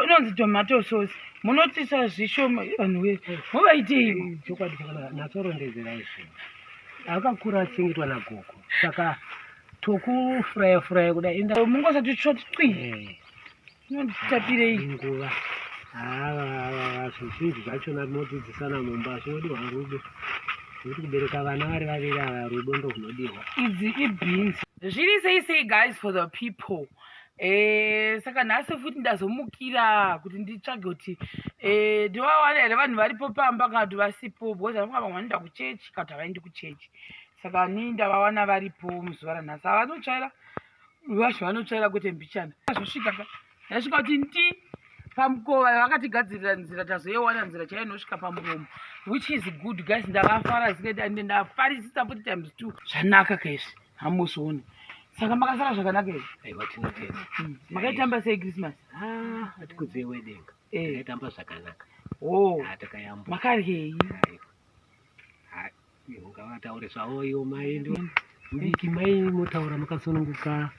inonzi tomato sauce munotisa zvishoma vanhu wee muvaitei chokwadi natorondedzera izvi akakura asingitwa nagogo saka tokufuraya furaya kuda enda mungosati tsvotwi eh. inotapirei nguva zvizhinji zvachona tinodzidzisana mumba zvinodiwa rudo nekuti kubereka vana vari vaviri ava rudo ndohunodiwa idzi ibhinzi zviri sei sei guys for the people Eh, saka nhasi futi ndazomukira kuti nditsvage kuti eh, ndivawana here vanhu varipo pamba kana kuti vasipo because anonga vamwe vanoenda kuchechi kana kuti havaendi kuchechi saka ni ndavawana varipo muzuva ranhasi havanotsvaira vacho vanotsvaira kuti mbichana zvosvika yasvika kuti nti pamukova vakatigadzirira nzira tazoyewana nzira chaiyo inosvika pamuromo which is good guys ndakafara zikaita ande ndafarisisa futi times two zvanaka kaizvi hamuzooni saka makasara zvakanaka izvi aiwa tinotenda hmm. makaitamba sei christmas ah, atikudzei wedenga eh. takaitamba zvakanaka oh. ah, takayamuka makaryei Ngavataure zvavo ivo mai ndo mbiki mai motaura makasununguka.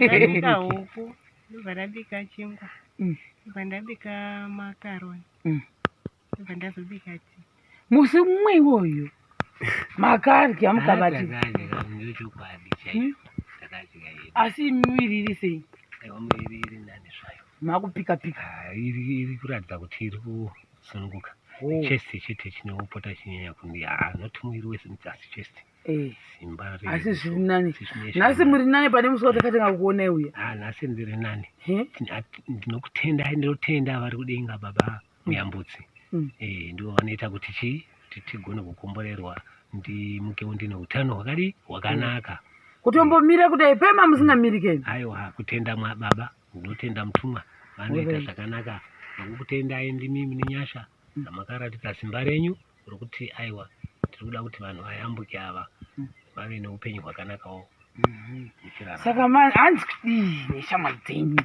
Ndabika huku, ndobva ndabika chingwa, Mm. ndobva ndabika makaroni, Mm. ndobva ndazobika tii. musi mumwe iwoyo makadya mukabati Ndakadya chokwadi chaiyo. Ndakadya yedu. asi miviri iri sei Aiwa muviri iri nani zvayo. makupika pika Ah, Iri iri kuratidza kuti iri ku sununguka oh. chest chete chinopota chinyanya kunge haa not muviri wese mti asi chest eh. simba asi zviri nani nhasi muri nani pane musi watakatanga kuonai uya ha ah, nhasi ndiri nani ndinokutenda ndinotenda vari kudenga baba mm. muyambutsi mm. eh, ndivo vanoita kuti chi kuti tigone kukomborerwa ndimukewo ndine utano hwakadi hwakanaka mm. kutombomira kudai pema musingamirikeni aiwa kutenda mwababa Ndinotenda mutumwa vanoita zvakanaka ndokukutendai ndimi mune nyasha dzamakaratidza simba renyu rokuti aiwa tiri kuda kuti vanhu vayambuke ava vave neupenyu hwakanakawo saka hanzi kudii neshamwari dzenyu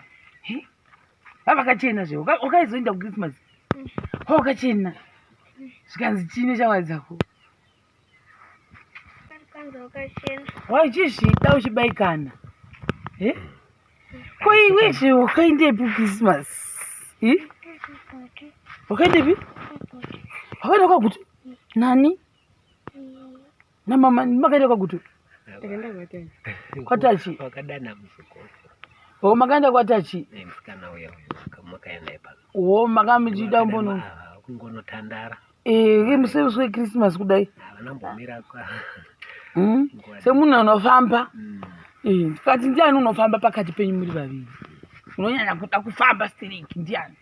vavakachena zve wakaizoenda kuchristmas ho ukachena zvikanzi chii neshamwari dzako wachizvita uchibaikana eh? ko iwe zve wakaendepi christmas eh? wakaendepi wakaenda kwagutu nani namama makaenda kwagutu kwatachi o makaenda kwatachi o makamuchida mbono kungonotandara Eh, musemusi wekrisimasi kudai hmm? semunhu anofamba hmm. eh, ndikati ndiani unofamba pakati penyu muri vaviri unonyanya kuda kufamba stereki ndiani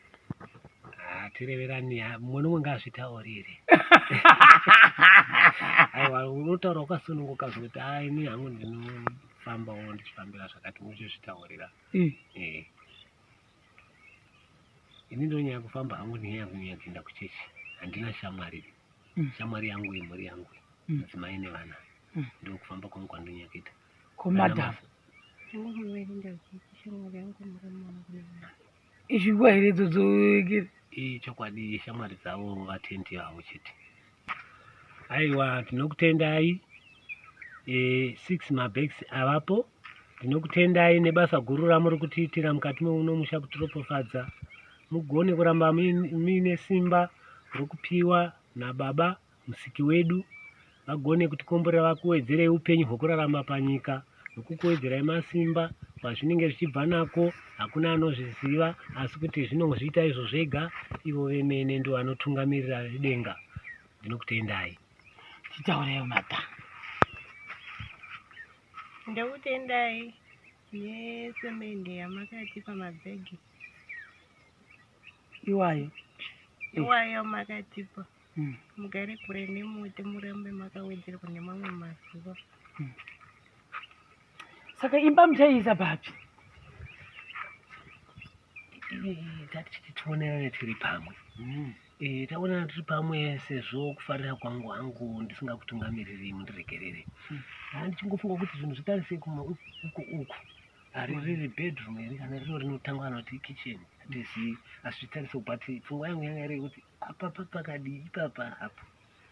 ah, tireverani mumwe nomwe ngaazvitaurire aiwa unotaura ukasununguka zvekuti a ah, ini hangu ndinofambawo ndichifambira zvakati muchizvitaurira eh. ini ndonyaya kufamba hangu nenyaya yangu nyaya kuenda kuchechi handina shamwari mm. shamwari yangu imhuri yangu mm. mudzimai mm. nevana mm. ndokufamba kwangu kwandonyaya kuita komadam izvingwa here dzodzokera ii chokwadi shamwari dzavo vatenti avo chete aiwa tinokutendai e, six mabags avapo tinokutendai nebasa guru ramuri kutiitira mukati meuno musha kutiropofadza mugone kuramba muine simba rokupiwa nababa musiki wedu vagone kutikomborera vakuwedzerei upenyu hwekurarama panyika nokukuwedzerai masimba kwazvinenge zvichibva nako hakuna anozviziva asi kuti zvinozviita izvo zvega ivo vemene ndivo vanotungamirira vedenga ndinokutendai titaureyo mata ndokutendai nesemende yamakatipa mabhegi iwayo iwayo makatipa mm. mugare kure nemuti murambe makawedzerwa nemamwe mazuva mm. saka imba muchaiisa papi tatichiti tionerane tiri pamwe mm. e, taonana tiri pamwe sezvo kufarira kwangu hangu ndisingakutungamiriri mundiregerere mm. handichingofunga kuti zvinhu zvitarisei kuma uku uku hari riri bedroom here kana rino rinotangwa anoti kitchen hatizii asi zvitarisei but pfungwa yangu yanga iri yekuti apa papakadii ipapa apo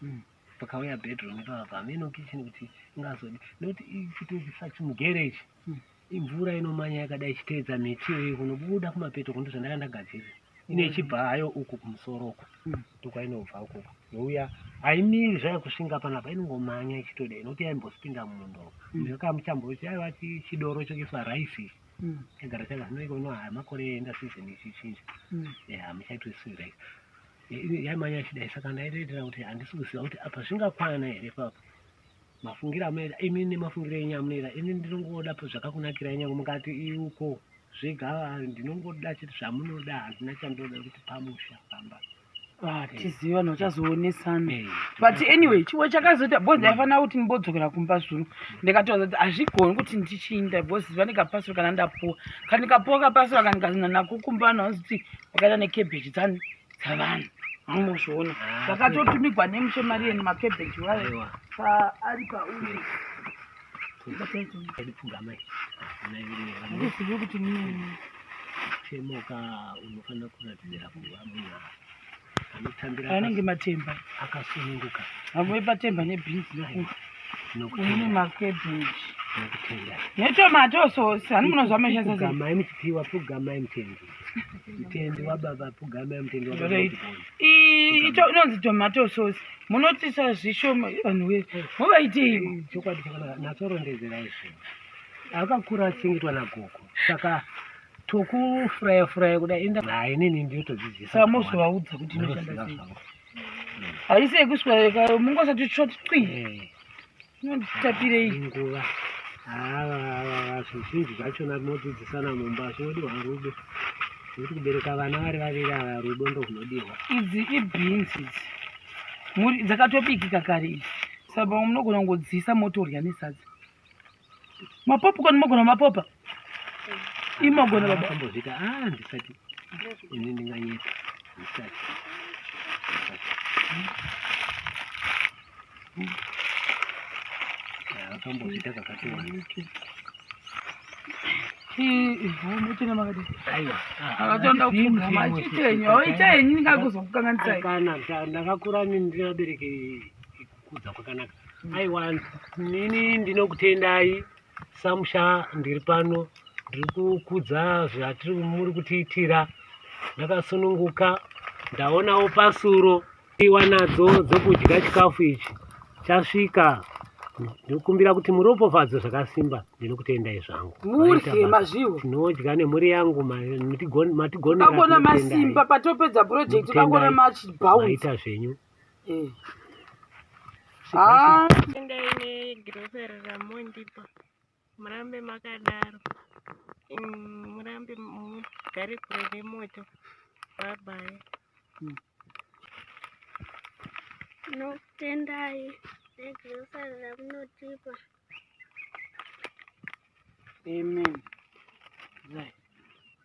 hmm. pakauya bedroom ipapa pameno kitchen kuti ingazodi nekuti ichitoisa chimugere ichi hmm. imvura inomanya yakadai ichiteedza miti iyoyo kunobuda kumapeto kuno zvandaka ndagadzirira ine ichibva hayo uku kumusoro uku hmm. ndokwainobva ukuku youya haimiri zvayo kusvinga panapa inongomanya ichitodai nokuti yaimbosipinda mumundo ndakamuchamboiti aiwa chidoro chokuiswa raisi ichi agara changa zvinoiko ino makore enda season ichichinja hamuchaitosira yaimanya ichidai saka ndaitoitira kuti handisi kuziva kuti apa zvingakwana here papo mafungiro amunoita imi nemafungiro enyu amunoita ini ndinongoda zvakakunakira nyange mukati iuko zvega ndinongoda chete zvamunoda handina chandoda kuti pamusha pamba Ah, tizive vanhu vachazoonesana Eh, but anyway chimwe chakazoita bcause ndaifanira kuti ndibodzokera kumba zvino ndikatoona kuti hazvigoni kuti ndichiinda bcause vane kapasiro kana ndapuwa kana ndikapuwa kapasiro kana ndikazina nako kumba vanhu vanozoti wakaita nekebheji dzani dzavanhu amozviona Ah, vakatotumigwa nemushe mari yeni makebheji wayo aiwa. paari pauri Ndisiye kuti nini. chemoka unofanira kuratidzira kuva munhu anotambira Anenge matemba. akasununguka Amwe patemba nebeans nekuti une nokutenda macabbage. nokutenda Netomato sauce. Hani munozwa mashandisa sei? pfugamai muchipiwa pfugamai mutendi Mtendi wa baba pugame mtendi wa baba. Right. pugame. I- ito- inonzi tomato sauce munotisa zvishoma vanhu we muvaitei chokwadi chakanaka natsorondedzera izvo akakura achingetwa nagogo saka tokufuraya furaya kuda enda naye nini ndiyotodzidzisa saka mozovaudza kuti inoshanda sei haisi yekuswereka mungosati tsvoti cwi inonditapirei nguva zvizhinji zvachona tinodzidzisana mumba zvinodiwa rudo nekuti kubereka vana vari vaviri ava rudo ndo hunodiwa idzi ibhinzi idzi muri dzakatobikika kare idzi saka munogona kungodziisa motorya nesadza mapopa kani mogona mapopa imogona babaambozvita a ah, ndisati ini ndinganyepa ndisati akambozviita kakati wani ndakakura ndinabereke kukudza kwakanaka aiwa nini ndinokutendai samusha ndiri pano ndiri kukudza zvatiri muri kutiitira ndakasununguka ndaonawo pasuro iwa nadzo dzokudya chikafu ichi chasvika ndinokumbira kuti muropofadzo zvakasimba ndinokutendai zvangu murye mazviwo tinodya nemhuri yangu matigonagona masimba patopedza project kangona machibauita zvenyu eh. ah. murambe makadaro mm, murambe mugare kure nemoto babai mm. nokutendai negrosa ramunotipa amen right.